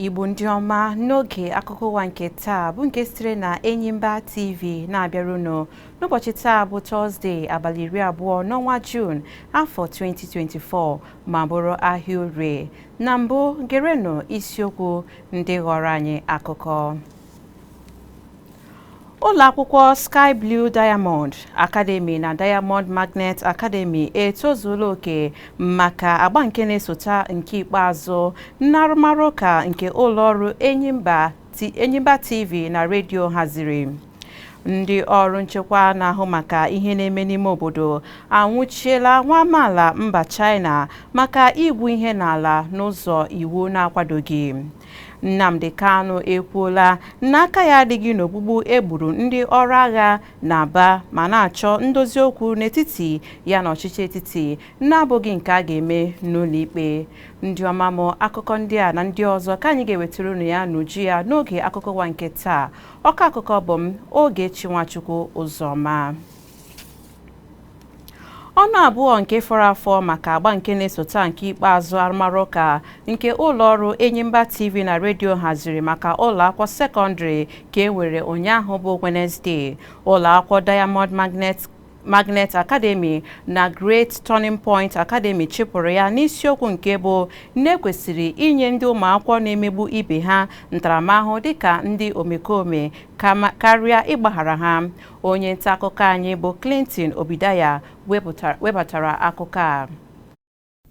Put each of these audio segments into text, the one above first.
igbo ndị ọma n'oge akụkọ ụwa nke taa bụ nke sitere na enyimba tv na-abịara unu n'ụbọchị taa bụ tọzde abalị iri abụọ n'ọnwa juun afọ 2024 ma bụrụ ahịa orie na mbụ gerenụ isiokwu ndị ghọrọ anyị akụkọ ụlọ akwụkwọ Sky Blue Diamond Academy na Diamond Magnet Academy etozuola oke maka agba nke na-esota nke ikpeazụ n'arụmarụ ụka nke ụlọ ọrụ Enyimba TV na redio haziri ndị ọrụ nchekwa na-ahụ maka ihe na-eme n'ime obodo anwụchiela nwa amaala mba China maka igwu ihe n'ala n'ụzọ iwu na-akwadoghị Nnamdi Kanu ekwuola na aka ya adịghị n'ogbugbu e gburu ndị ọrụ agha n'Aba ma na-achọ ndozi okwu n'etiti ya na ọchịchị etiti na-abụghị nke a ga-eme n'ụlọikpe ndị ọma m akụkọ ndị a na ndị ọzọ ka anyị ga-ewetara unu ya n'uju ya n'oge akụkọ ụwa nke taa ọka akụkọ bụ m Ogechi Nwachukwu Ụzọma ọnụ abụọ nke fọrọ afọ maka agba nke na-esota nke ikpeazụ arụmarụ ụka nke ụlọ ọrụ Enyimba TV na redio haziri maka ụlọ akwụkwọ sekọndịrị ka e nwere ụnyaahụ bụ Wenezdee ụlọ akwụkwọ Diamond Magnet Magnet Academy na Great Turning Point Academy chịpụrụ ya n'isiokwu nke bụ na e kwesịrị inye ndị ụmụakwụkwọ na-emegbu ibe ha ntaramahụhụ dịka ndị omekome karịa ịgbaghara ha onye nta akụkọ anyị bụ Clinton Obidaya webatara akụkọ a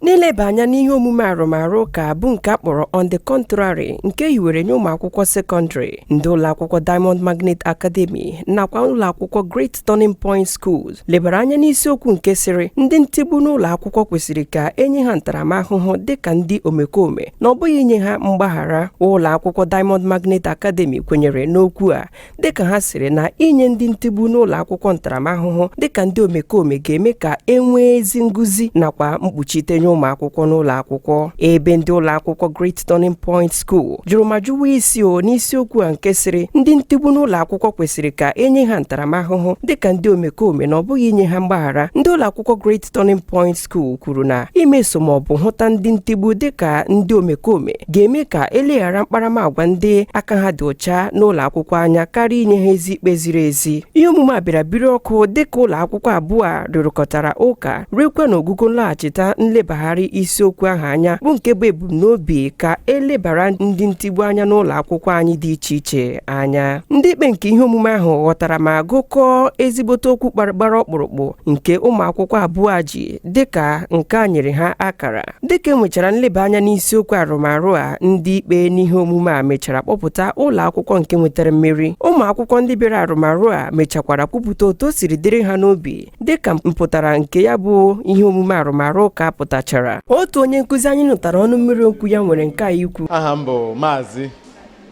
N'ileba anya n'ihe omume arụmarụ ụka bụ nke a kpọrọ On the Contrary nke e hiwere nye ụmụ akwụkwọ sekọndrị, ndị ụlọakwụkwọ Diamond Magnet Academy nakwa ụlọakwụkwọ Great Turning Point Schools lebara anya n'isiokwu nke sịrị ndị ntigbu n'ụlọ akwụkwọ kwesịrị ka e nye ha ntaramahụhụ dịka ndị omekome na ọ bụghị inye ha mgbaghara. Ụlọ akwụkwọ Diamond Magnet Academy kwenyere n'okwu a dịka ha sịrị na inye ndị ntigbu n'ụlọ akwụkwọ ntaramahụhụ dịka ndị omekome ga-eme ka e nwee ezi nguzi nakwa mkpuchite nye ụmụ akwụkwọ n'ụlọ akwụkwọ ebe ndị ụlọ akwụkwọ Great Turning Point School jụrụ ma jụwa isi o n'isiokwu a nke sịrị ndị ntigbu n'ụlọ akwụkwọ kwesịrị ka e nye ha ntaramahụhụ dịka ndị omekome na ọ bụghị inye ha mgbaghara ndị ụlọ akwụkwọ Great Turning Point School kwuru na imeso ma ọ bụ hụta ndị ntigbu dịka ndị omekome ga-eme ka eleghara mkparamagwa ndị aka ha dị ọcha n'ụlọ akwụkwọ anya karịa inye ha ezi ikpe ziri ezi ihe omume a bịara biri ọkụ dịka ụlọ akwụkwọ abụọ a rụrụkọtara ụka ruekwa n'ogogo nlaghachita nlebagharị isiokwu ahụ anya bụ nke bụ ebumnobi ka elebara ndị ntigbu anya n'ụlọ akwụkwọ anyị dị iche iche anya ndị ikpe nke ihe omume ahụ ghọtara ma gụkọọ ezigbote okwu gbara ọkpụrụkpụ nke ụmụ akwụkwọ abụọ a ji dịka nke a nyere ha akara dịka enwechara nleba anya n'isiokwu arụmarụ a ndị ikpe n'ihe omume a mechara kpọpụta ụlọ akwụkwọ nke nwetara mmeri ụmụ akwụkwọ ndị bịara arụmarụ a mechakwara kwupụta otu o siri dịrị ha n'obi dịka mpụtara nke ya bụ ihe omume arụmarụ ụka pụtachara otu onye nkụzi anyị nụtara ọnụ mmiri okwu ya nwere nke a ikwu aha m bụ Maazị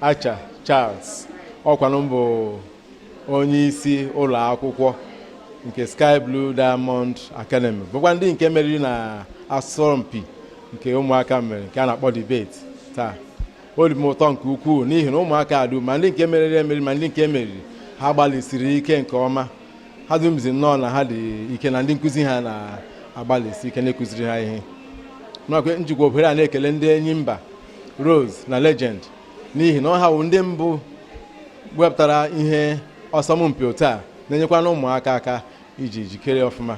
Acha Charles ọkwanụ m bụ onye isi ụlọ akwụkwọ nke Sky Blue Diamond Academy bụkwa ndị nke meriri na asọmpi nke ụmụaka mere nke a na-akpọ debate taa ọ dị m ụtọ nke ukwuu n'ihi na ụmụaka a dum ma ndị nke meriri emeri ma ndị nke meriri ha gbalịsiri ike nke ọma ha dumzi nnọọ na ha dị ike na ndị nkụzi ha na-agbalịsi ike na-ekụziri ha ihe m jikwa ohere a na-ekele ndị Enyimba Rose na Legend n'ihi na ọ ha wụ ndị mbụ wepụtara ihe ọsọmpi otu a na-enyekwana ụmụaka aka iji jikere ọfụma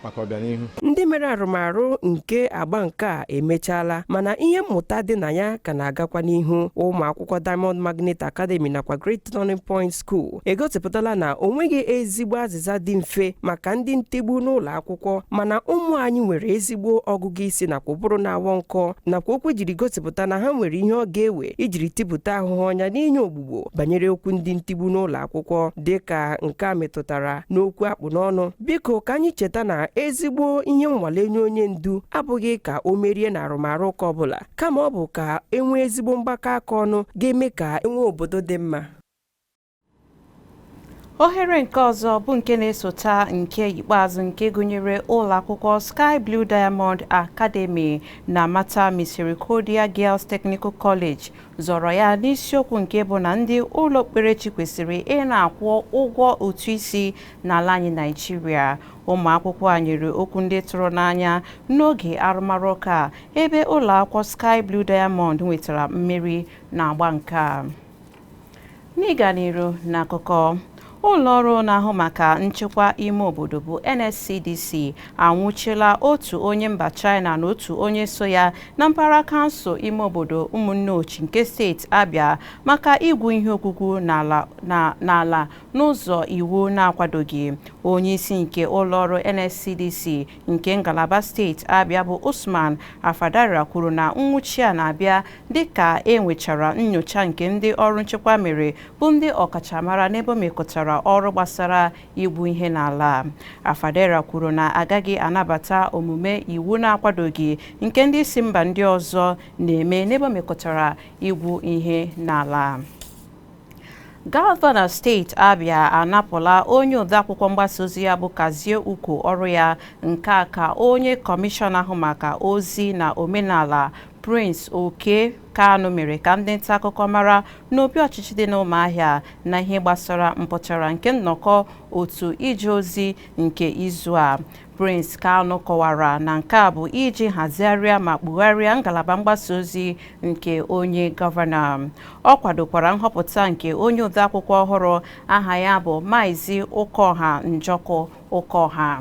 maka ọbịanihu ndị mere arụmarụ nke agba nke a emechaala mana ihe mmụta dị na ya ka na-agakwa n'ihu ụmụ akwụkwọ Diamond Magnet Academy nakwa Great Turning Point School egosipụtala na o nweghị ezigbo azịza dị mfe maka ndị ntigbu n'ụlọ akwụkwọ mana ụmụ anyị nwere ezigbo ọgụgụ isi nakwa ụbụrụ na-awọ nkọ nakwa okwu jiri gosipụta na ha nwere ihe ọ ga-ewe ijiri tipụta ahụhụ ọnya n'inye ogbugbo banyere okwu ndị ntigbu n'ụlọ akwụkwọ dị ka nke a metụtara n'okwu a kpụ n'ọnụ biko ka anyị cheta na ezigbo ihe nnwale nye onye ndu abụghị ka o merie na arụmarụ ụka ọbụla kama ọ bụ ka enwee ezigbo mgbakọ aka ọnụ ga-eme ka enwee obodo dị mma ohere nke ọzọ bụ nke na-esota nke ikpeazụ nke gụnyere ụlọ akwụkwọ Sky Blue Diamond Academy na Mater Misericordia Girls Technical College zọrọ ya n'isiokwu nke bụ na ndị ụlọ okpukperechi kwesịrị ị na-akwụ ụgwọ ụtụ isi n'ala anyị Naịjirịa ụmụ akwụkwọ a nyere okwu ndị tụrụ n'anya n'oge arụmarụ ụka ebe ụlọ akwụkwọ Sky Blue Diamond nwetara mmeri n'agba nke a N'ịga n'iru n'akụkọ, ụlọ ọrụ na-ahụ maka nchekwa ime obodo bụ NSCDC anwụchila otu onye mba China na otu onye so ya na mpaghara kansụl ime obodo Ụmụnneochi nke steeti Abia maka igwu ihe ogwugwu n'ala n'ụzọ iwu na-akwadoghị. Onyeisi nke ụlọọrụ NSCDC nke ngalaba steeti Abịa bụ Usman Afadara kwuru na nwụchi a na-abịa dịka e nwechara nnyocha nke ndị ọrụ nchekwa mere bụ ndị ọkachamara n'ebe o mekọtara ọrụ gbasara igwu ihe n'ala Afadara kwuru na agaghị anabata omume iwu na-akwadoghị nke ndị si mba ndị ọzọ na-eme n'ebe o mekọtara igwu ihe n'ala Gọvanọ steeti Abia anapụla onye odeakwụkwọ mgbasa ozi ya bụ Kazie Uko ọrụ ya nke a ka onye kọmishọna ahụ maka ozi na omenala Prince Okey Kanu mere ka ndị nta akụkọ mara n'obi ọchịchị dị n'Ụmụahịa na ihe gbasara mpụtara nke nnọkọ otu ije ozi nke izu a. Prince Kanu kọwara na nke a bụ iji hazigharịa ma kpugharịa ngalaba mgbasa ozi nke onye gọvanọ. Ọ kwadokwara nhọpụta nke onye odeakwụkwọ ọhụrụ aha ya bụ Maazị Ụkọha Njọkụ Ụkọha.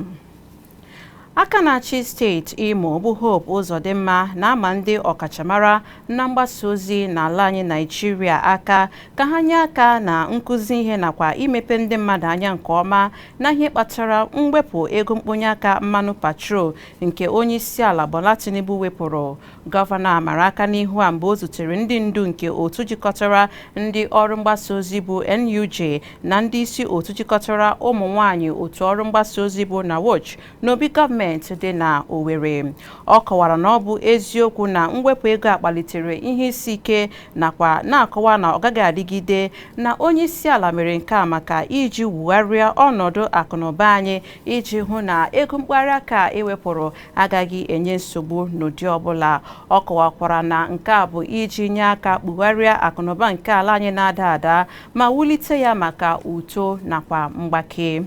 Aka na-achị steeti Imo bụ Hope Uzodimma na-ama ndị ọkachamara na mgbasa ozi n'ala anyị Naịjirịa aka ka ha nye aka na nkụzi ihe nakwa imepe ndị mmadụ anya nke ọma na ihe kpatara mwepụ ego mkponye aka mmanụ petrol nke onye isi ala Bola Tinubu wepụrụ gọvanọ a mara aka n'ihu a mgbe o zutere ndị ndu nke otu jikọtara ndị ọrụ mgbasa ozi bụ NUJ na ndị isi otu jikọtara ụmụ nwanyị otu ọrụ mgbasa ozi bụ NAWOJ n'obi gọọmenti dị na Owerri ọ kọwara na ọ bụ eziokwu na mwepụ ego a kpalitere ihe isi ike nakwa na-akọwa na ọ gaghị adịgide na onye isi ala mere nke a maka iji wugharịa ọnọdụ akụnụba anyị iji hụ na ego mkparị aka e wepụrụ agaghị enye nsogbu n'ụdị ọbụla ọ kọwakwara na nke a bụ iji nye aka kpugharịa akụnụba nke ala anyị na-ada ada ma wulite ya maka uto nakwa mgbake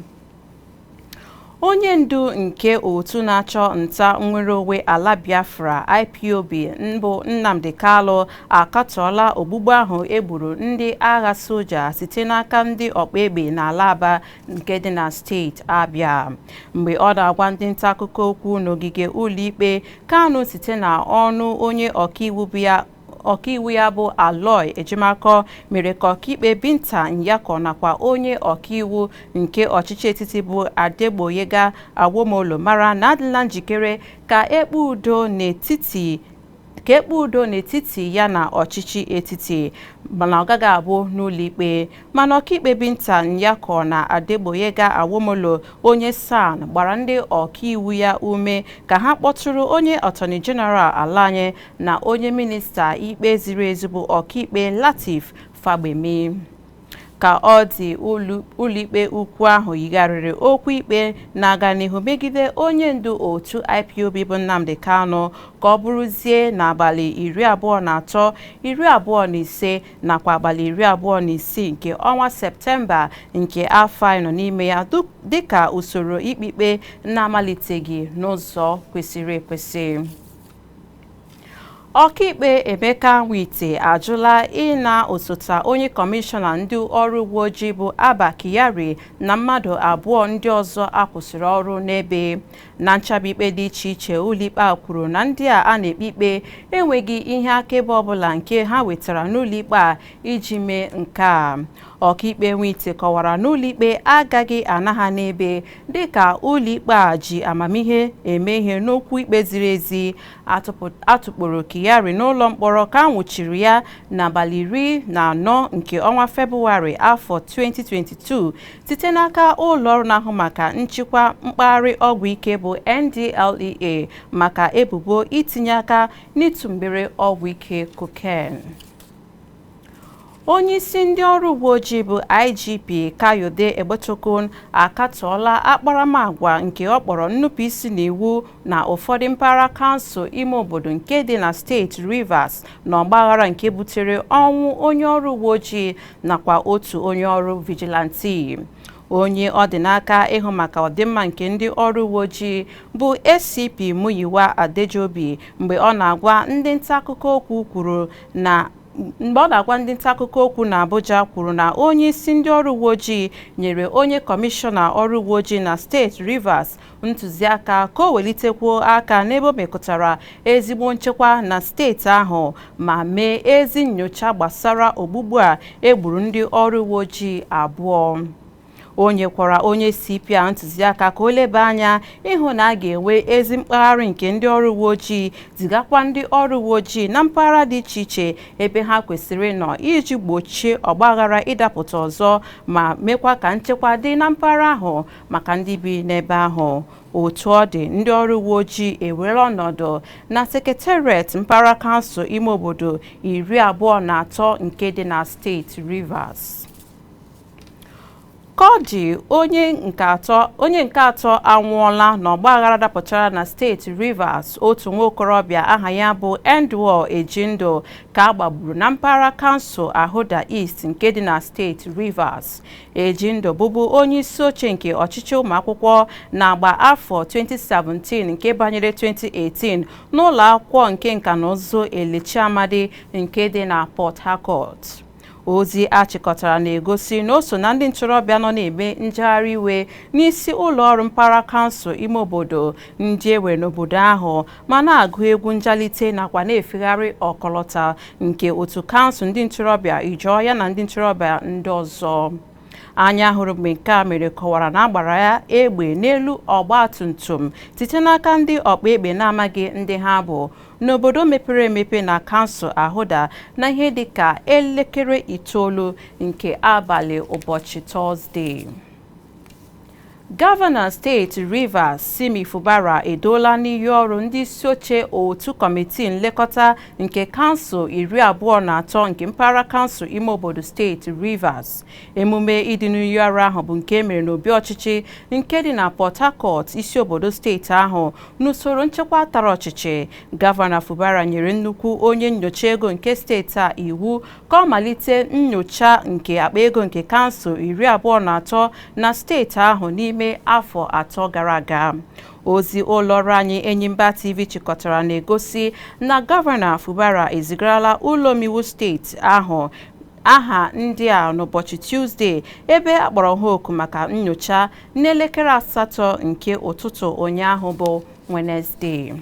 onye ndu nke otu na-achụ nta nnwere onwe ala biafra ipob bụ nnamdi kanu akatọọla ogbugbu ahụ e gburu ndị agha soja site n'aka ndị ọkpa egbe n'ala aba nke dị na steeti abịa mgbe ọ na-agwa ndị nta akụkọ okwu n'ogige ụlọikpe kanu site na ọnụ onye ọkaiwu bụ ya ọkaiwu ya bụ Aloy Ejimakọ mere ka ọkaikpe Binta Nyako nakwa onye ọkaiwu nke ọchịchị etiti bụ Adegboyega Awomolo mara na adịla njikere ka e kpee udo n'etiti ya na ọchịchị etiti mana ọ gaghị abụ n'ụlọikpe mana ọkaikpe Binta Nyako na Adegboyega Awomolo onye SAN gbara ndị ọkaiwu ya ume ka ha kpọtụrụ onye Attorney General ala anyị na onye minista ikpe ziri ezi bụ ọkaikpe Lateef Fagbemi ka ọ dị ụlọikpe ukwu ahụ yigharịrị okwu ikpe na-aga n'ihu megide onye ndu otu IPOB bụ Nnamdi Kanu ka ọ bụrụzie n'abalị iri abụọ na atọ iri abụọ na ise nakwa abalị iri abụọ na isii nke ọnwa septemba nke afọ anyị nọ n'ime ya dịka usoro ikpe ikpe na-amaliteghị n'ụzọ kwesịrị ekwesị ọkaikpe emeka nwite ajụla ịna osote onye kọmishọna ndị ọrụ uwe ojii bụ abba kyari na mmadụ abụọ ndị ọzọ a kwụsịrị ọrụ n'ebe na nchaba ikpe dị iche iche ụlọikpe a kwuru na ndị a a na-ekpe ikpe enweghị ihe akaebe ọbụla nke ha wetara n'ụlọikpe a iji mee nke a ọkaikpe nwite kọwara na ụlọikpe agaghị ana ha n'ebe dị ka ụlọikpe a ji amamihe eme ihe n'okwu ikpe ziri ezi a tụkpọrọ Kyari n'ụlọ mkpọrọ ka a nwụchiri ya n'abalị iri na anọ nke ọnwa Febụwarị afọ 2022 site n'aka ụlọọrụ na-ahụ maka nchịkwa mkpagharị ọgwụ ike bụ NDLEA maka ebubo itinye aka n'ịtụ mgbere ọgwụ ike koken. onye isi ndị ọrụ uwe ojii bụ igp kayode egbetokun akatọọla akparamagwa nke ọ kpọrọ nnupụisi n'iwu na ụfọdụ mpaghara kansụl ime obodo nke dị na steeti rivers na ọgbaghara nke butere ọnwụ onye ọrụ uwe ojii nakwa otu onye ọrụ vigilanti onye ọ dị n'aka ịhụ maka ọdịmma nke ndị ọrụ uwe ojii bụ ACP Muyiwa Adejobi mgbe ọ na-agwa ndị nta akụkọ okwu kwuru na mgbe ọ na-agwa ndị nta akụkọ okwu na Abuja kwuru na onye isi ndị ọrụ uwe ojii nyere onye kọmishọna ọrụ uwe ojii na steeti Rivers ntụziaka ka o welitekwuo aka n'ebe o mekụtara ezigbo nchekwa na steeti ahụ ma mee ezi nnyocha gbasara ogbugbu a e gburu ndị ọrụ uwe ojii abụọ o nyekwara onye CP a ntụziaka ka o leba anya ịhụ na a ga-enwe ezi mkpagharị nke ndị ọrụ uwe ojii zigakwa ndị ọrụ uwe ojii na mpaghara dị iche iche ebe ha kwesịrị ịnọ iji gbochie ọgbaghara ịdapụta ọzọ ma mekwa ka nchekwa dị na mpaghara ahụ maka ndị bi n'ebe ahụ otu ọ dị ndị ọrụ uwe ojii ewere ọnọdụ na sekretariat mpaghara kansụl ime obodo iri abụọ na atọ nke dị na steeti Rivers Ka ọ dị onye nke atọ anwụọla n'ọgbaghara dapụtara na steeti Rivers otu nwa okorobịa aha ya bụ Endwell Ejindo ka a gbagburu na mpaghara kansụl Ahoada East nke dị na steeti Rivers. Ejindo bụbu onye isi oche nke ọchịchị ụmụakwụkwọ n'agba afọ 2017 nke banyere 2018 n'ụlọ akwụkwọ nke nka na ụzụ Elechi Amadi nke dị na Port Harcourt. Ozi a chịkọtara na-egosi na o so na ndị ntorobịa nọ na-eme njegharị iwe n'isi ụlọ ọrụ mpaghara kansụl ime obodo ndị e nwere n'obodo ahụ ma na-agụ egwu njalite nakwa na-efegharị ọkọlọta nke otu kansụl ndị ntorobịa Ijaw ya na ndị ntorobịa ndị ọzọ. Anya hụrụ mgbe nke a mere kọwara na a gbara ya egbe n'elu ọgba tum tum site n'aka ndị ọkpa egbe na-amaghị ndị ha bụ n'obodo mepere emepe na kansụl Ahoada na ihe dị ka elekere itoolu nke abalị ụbọchị Tọzdee. Gọvanọ steeti Rivers Simi Fubara eduola n'iyi ọrụ ndị isi oche otu kọmitii nlekọta nke kansụl iri abụọ na atọ nke mpaghara kansụl ime obodo steeti Rivers. Emume idu n'iyi ọrụ ahụ bụ nke e mere n'obi ọchịchị nke dị na Port Harcourt isi obodo steeti ahụ N'usoro nchekwa tara ọchịchị, Gọvanọ Fubara nyere nnukwu onye nyocha ego nke steeti a iwu ka ọ malite nyocha nke akpa ego nke kansụl iri abụọ na atọ na steeti ahụ n'ime afọ atọ gara aga. Ozi ụlọọrụ anyị Enyimba TV chịkọtara na-egosi na Gọvanọ Fubara ezigarala ụlọomeiwu steeti ahụ aha ndị a n'ụbọchị Tuzdee ebe a kpọrọ ha oku maka nyocha n'elekere asatọ nke ụtụtụ ụnyaahụ bụ Wenezdee.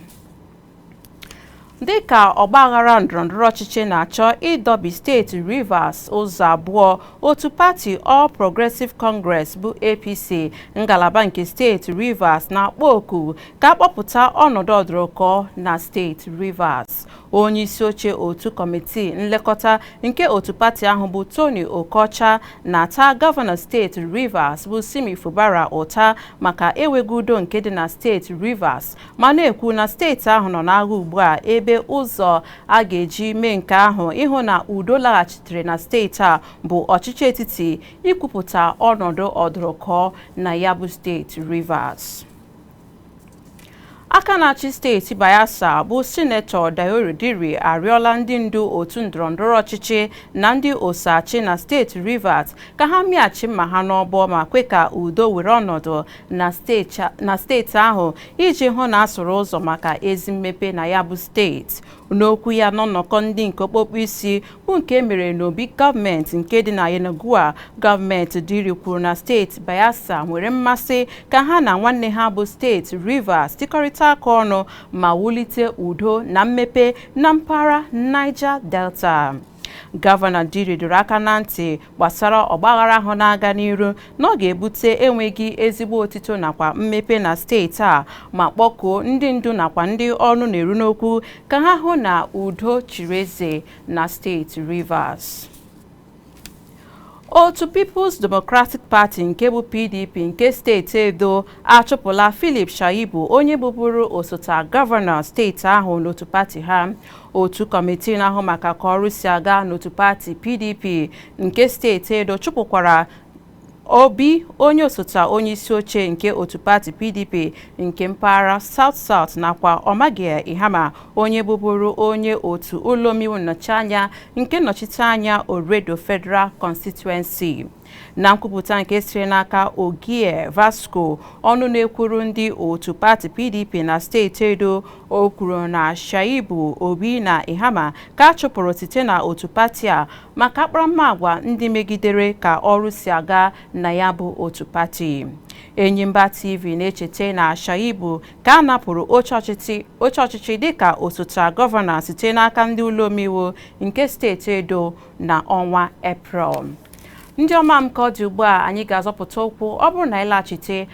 dịka ọgbaghara ndọrọndọrọ ọchịchị na-achọ ịdọbi steeti Rivers ụzọ abụọ otu pati All Progressive Congress bụ APC ngalaba nke steeti Rivers na-akpọ oku ka a kpọpụta ọnọdụ ọdụrụkọ na steeti Rivers onye isi oche otu kọmitii nlekọta nke otu pati ahụ bụ Tony Okocha na-ata gọvanọ steeti Rivers bụ Simi Fubara ụta maka enweghị udo nke dị na steeti Rivers ma na-ekwu na steeti ahụ nọ n'agha ugbu a ebe ụzọ a ga-eji mee nke ahụ ịhụ na udo laghachitere na steeti a bụ ọchịchị etiti ikwupụta ọnọdụ ọdụrụkọ na ya bụ steeti Rivers aka na-achị steeti Bayelsa bụ sinetọ Douye Diri arịọla ndị ndu otu ndọrọndọrọ ọchịchị na ndị oso achị na steeti Rivers ka ha mịachi mma ha n'ọbọ ma kwe ka udo were ọnọdụ na steeti ahụ iji hụ na a sụrụ ụzọ maka ezi mmepe na ya bụ steeti N'okwu ya n'ọnọkọ ndị nke okpokpo isi bụ nke e mere n'obi gọọmenti nke dị na Yenagoa, gọọmenti Diri kwuru na steeti Bayelsa nwere mmasị ka ha na nwanne ha bụ steeti Rivers tikọrịta aka ọnụ ma wulite udo na mmepe na mpaghara Niger Delta. Gọvanọ Diri dọrọ aka na ntị gbasara ọgbaghara ahụ na-aga n'iru na ọ ga-ebute enweghị ezigbo otito nakwa mmepe na steeti a ma kpọkuo ndị ndu nakwa ndị ọnụ na-eru n'okwu ka ha hụ na udo chiri eze na steeti Rivers. otu People's Democratic Party nke bụ PDP nke steeti Edo achụpụla Philip Shaibu onye bụbụrụ osote gọvanọ steeti ahụ n'otu pati ha otu kọmitii na-ahụ maka ka ọrụ si aga n'otu pati PDP nke steeti Edo chụpụkwara Orbih onye osote onye isi oche nke otu pati PDP nke mpaghara South South nakwa Omoregie Ihama onye bụbụrụ onye otu ụlọ omeiwu nnọchianya nke nnọchiteanya Oredo Federal Constituency. Na nkwupụta nke siri n'aka Ogie Vasco ọnụ na-ekwuru ndị otu pati PDP na steeti Edo o kwuru na Shaibu Orbih na Ihama ka a chụpụrụ site na otu pati a maka akparamagwa ndị megidere ka ọrụ si aga na ya bụ otu pati Enyimba TV na-echeta na Shaibu ka a napụrụ oche ọchịchị oche ọchịchị dịka osote gọvanọ site n'aka ndị ụlọ omeiwu nke steeti Edo na ọnwa Eprel ndị ọma m ka ọ dị ugbu a anyị ga-azọpụta ụkwụ ọ bụrụ na anyị laghachite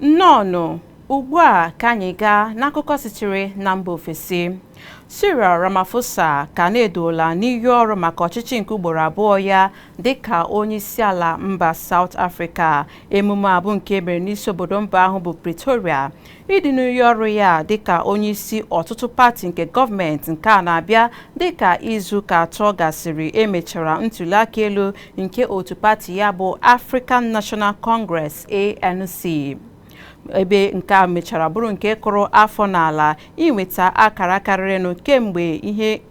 Nnọọnụ, ugbu a ka anyị gaa n'akụkọ sitere na mba ofesi. Cyril Ramaphosa ka na-eduola n'iyi ọrụ maka ọchịchị nke ugboro abụọ ya dịka onyeisiala mba South Africa. Emume a bụ nke e mere n'isi obodo mba ahụ bụ Pretoria. Ịdị n'iyi ọrụ ya dịka onyeisi ọtụtụ pati nke gọọmenti nke a na-abịa dịka izuụka atọ gasịrị e mechara ntuliaka elu nke otu pati ya bụ African National Congress ANC ebe nke a mechara bụrụ nke kụrụ afọ n'ala inweta akara karịrịnụ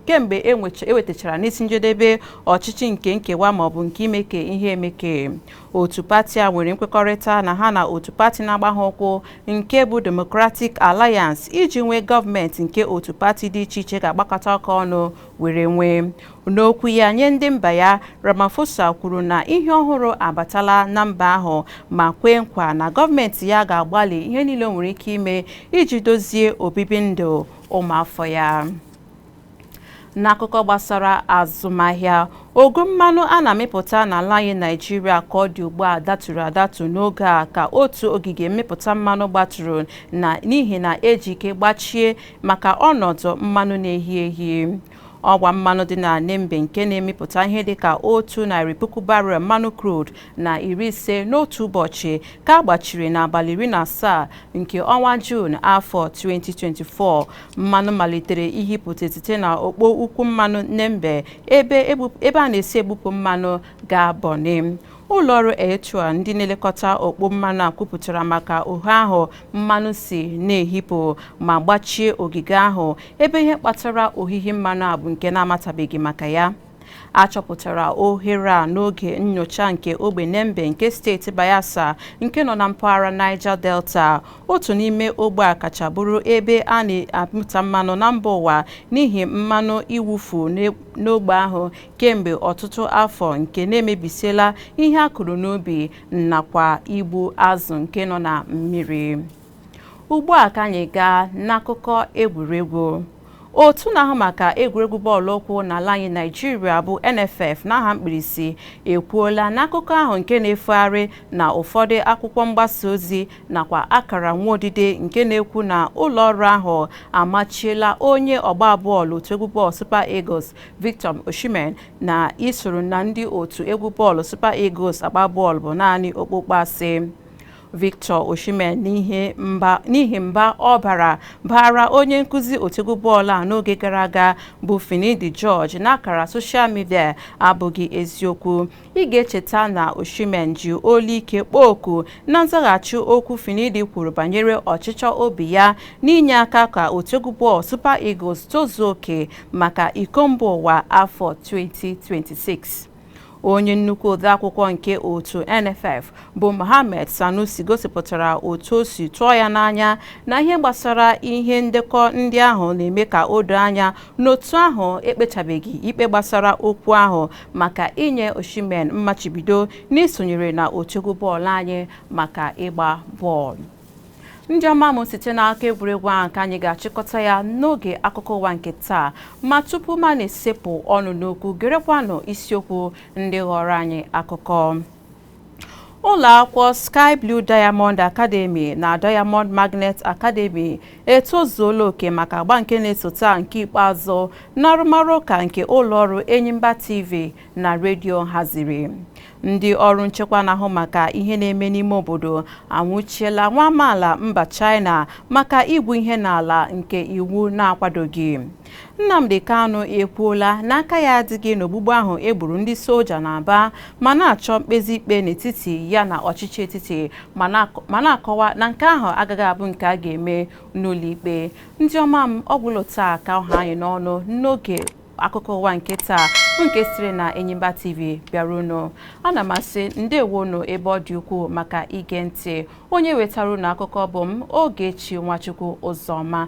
kemgbe e wetachara n'isi njedebe ọchịchị nke nkewa maọbụ nke imeke ihe emeke otu pati a nwere nkwekọrịta na ha na otu pati na-agba ha ụkwụ nke bụ Democratic Alliance iji nwee gọọmenti nke otu pati dị iche iche ga-agbakọta aka ọnụ were nwee N'okwu ya nye ndị mba ya, Ramaphosa kwuru na ihe ọhụrụ abatala na mba ahụ ma kwee nkwa na gọọmenti ya ga-agbalị ihe niile o nwere ike ime iji dozie obibi ndụ ụmụafọ ya. N'akụkọ gbasara azụmahịa, ogo mmanụ a na-amịpụta n'ala anyị Naịjirịa ka ọ dị ugbu a daturu adatu n'oge a ka otu ogige mmịpụta mmanụ gbaturu na n'ihi na eji ike gbachie maka ọnọdụ mmanụ na-ehi ehi. Ọgwa mmanụ dị na Nembe nke na-emepụta ihe dị ka otu narị puku barrel mmanụ crude na iri ise n'otu ụbọchị ka a gbachiri n'abalị iri na asaa nke ọnwa Juun afọ 2024. Mmanụ malitere ihipụta site na okpo ukwu mmanụ Nembe ebe a na-esi ebupụ mmanụ gaa Bonny. Ụlọọrụ Aiteo ndị na-elekọta okpo mmanụ a kwupụtara maka ohere ahụ mmanụ si na-ehipụ ma gbachie ogige ahụ ebe ihe kpatara ohihi mmanụ a bụ nke na-amatabeghị maka ya. A chọpụtara ohere a n'oge nnyocha nke ogbe Nembe nke steeti Bayelsa nke nọ na mpaghara Niger Delta, otu n'ime ogbe a kacha bụrụ ebe a na-amịta mmanụ na mba ụwa n'ihi mmanụ iwufu n'ogbe ahụ kemgbe ọtụtụ afọ nke na-emebisiela ihe a kụrụ n'ubi nakwa igbu azụ nke nọ na mmiri ugbu a ka anyị gaa n'akụkọ egwuregwu otu na-ahụ maka egwuregwu bọọlụ ụkwụ n'ala anyị naijiria bụ nff n'aha mkpirisi ekwuola na akụkọ ahụ nke na-efegharị na ụfọdụ akwụkwọ mgbasa ozi nakwa akara nwa odide nke na-ekwu na ụlọ ọrụ ahụ amachiela onye ọgba bọọlụ otu egwu bọọlụ super eagles Victor Osimhen na isoro na ndị otu egwu bọọlụ Super Eagles agba bọọlụ bụ naanị okpokpo asị Victor Osimhen n'ihi mba ọ bara baara onye nkụzi otu egwu bọọlụ a n'oge gara aga bụ Finidi George n'akara soshal midia abụghị eziokwu Ị ga-echeta na Osimhen ji olu ike kpọọ oku na nzaghachi okwu Finidi kwuru banyere ọchịchọ obi ya n'inye aka ka otu egwu bọọlụ Super Eagles tozuo oke maka iko mba ụwa afọ 2026. Onye nnukwu odeakwụkwọ nke otu NFF bụ Mohammed Sanusi gosipụtara otu o si tụọ ya n'anya na ihe gbasara ihe ndekọ ndị ahụ na-eme ka o doo anya na otu ahụ ekpechabeghị ikpe gbasara okwu ahụ maka inye Osimhen mmachibido n'isonyere na otu egwu bọọlụ anyị maka ịgba bọọlụ. Ndị ọma m site n'akụkọ egwuregwu ahụ ka anyị ga-achịkọta ya n'oge akụkọ ụwa nke taa ma tupu m ana-esepụ ọnụ n'okwu gerekwanụ isiokwu ndị ghọrọ anyị akụkọ. ụlọakwụkwọ Sky Blue Diamond Academy na Diamond Magnet Academy etozuola oke maka agba nke na-esota nke ikpeazụ n'arụmarụ ụka nke ụlọọrụ Enyimba TV na redio haziri ndị ọrụ nchekwa na-ahụ maka ihe na-eme n'ime obodo anwụchiela nwa amaala mba China maka igwu ihe n'ala nke iwu na-akwadoghị Nnamdi Kanu ekwuola na aka ya adịghị n'ogbugbu ahụ e gburu ndị soja n'Aba ma na-achọ mkpezi ikpe n'etiti ya na ọchịchị etiti ma na-akọwa na nke ahụ agaghị abụ nke a ga-eme n'ụlọikpe. Ndị ọma m, ọ gwụla taa ka ọ ha anyị n'ọnụ n'oge akụkọ ụwa nke taa nke sitere na Enyimba TV bịara unu. Ana m asị ndewonu ebe ọ dị ukwuu maka ige ntị. Onye wetara unu akụkọ bụ m Ogechi Nwachukwu Ụzọma.